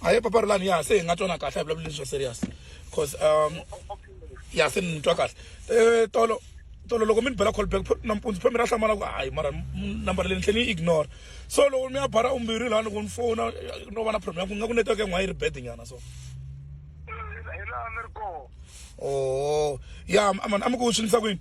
a hi papa ri lani ya se hi nga twana kahle a hi vulavuli leswi swa serious cause um ya se ni twa kahle um tolo tolo loko mi ni bela callback nampundzu phe mi ra hlamala ku hayi mara number leyi ni tlhe ni yi ignore so loko mi ya bara umbirhi laha loko ni fona no va na problem ya ku nga ku network yan'wana yi ri bad nyana so hi laha ni ri kona oo ya mani a mi ku swi ndlisa kwini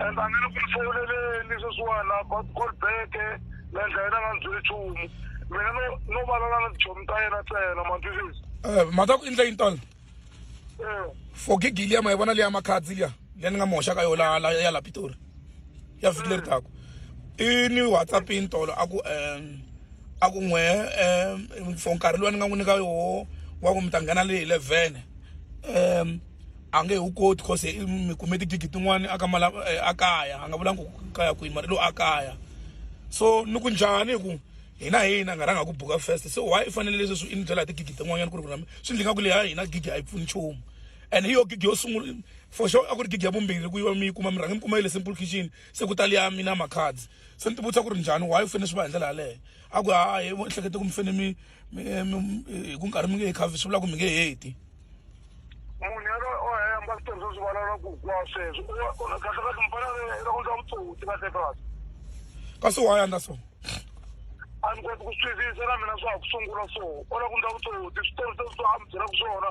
and a nga le ku mi hlawuleleni sweswiwani a ba call back na endla yena a nga ni byeli nchumu mina no no valala na tichomi ta yena ntsena ma twisisi Eh, mhaka ya ku endla yini tolo Eh, for gigi liya ma yi vona liya makhadzi liya liya ni nga mi hoxaka yo la la- ya la pitori ya vhiki leri taku i ni whatsapp yini tolo a ku um a ku n'we um for nkarhi lowu ni nga n'wi nyika yoho wa ku mi ta nghena leyi hi levhene um a nge wu koti cause mi kume tigigi tin'wani a ka mala eh, a kaya a nga vulangi ku kaya kwihi mara lo a kaya so ni ku njhani hi ku hina hina nga rhanga ku buka first so why i fanele leswi swi i ni byela hi tigigi tin'wanyana ku ri ku na swi ndli nga ku leha hina gigi a yi pfuni nchumu and hi yo gigi yo sungula for sure a ku ri gigi ya vumbirhi ku yiva mi yi kuma mi rhange mi kuma yi le simple kitchen se ku tali ya mina macards se ni ti vutisa ku ri njhani why u fanele swi va hi ndlela yaleyo a ku hayi ehlekete ku mi fanele mi mi mi- hi ku nkarhi mi nge he khavi swi vula ku mi nge heti munhu yalo o hemba ku tirhisa swivalala ku kwa sweswo kahlekahle mfana ra ku ndla vutsotsi kahle kasi ka swi waya ndla so a ni koti ku swi twisisa na mina swa ha ku sungula so o la ku ndla vutsotsi swi tirhisa swa a mi byela ku swona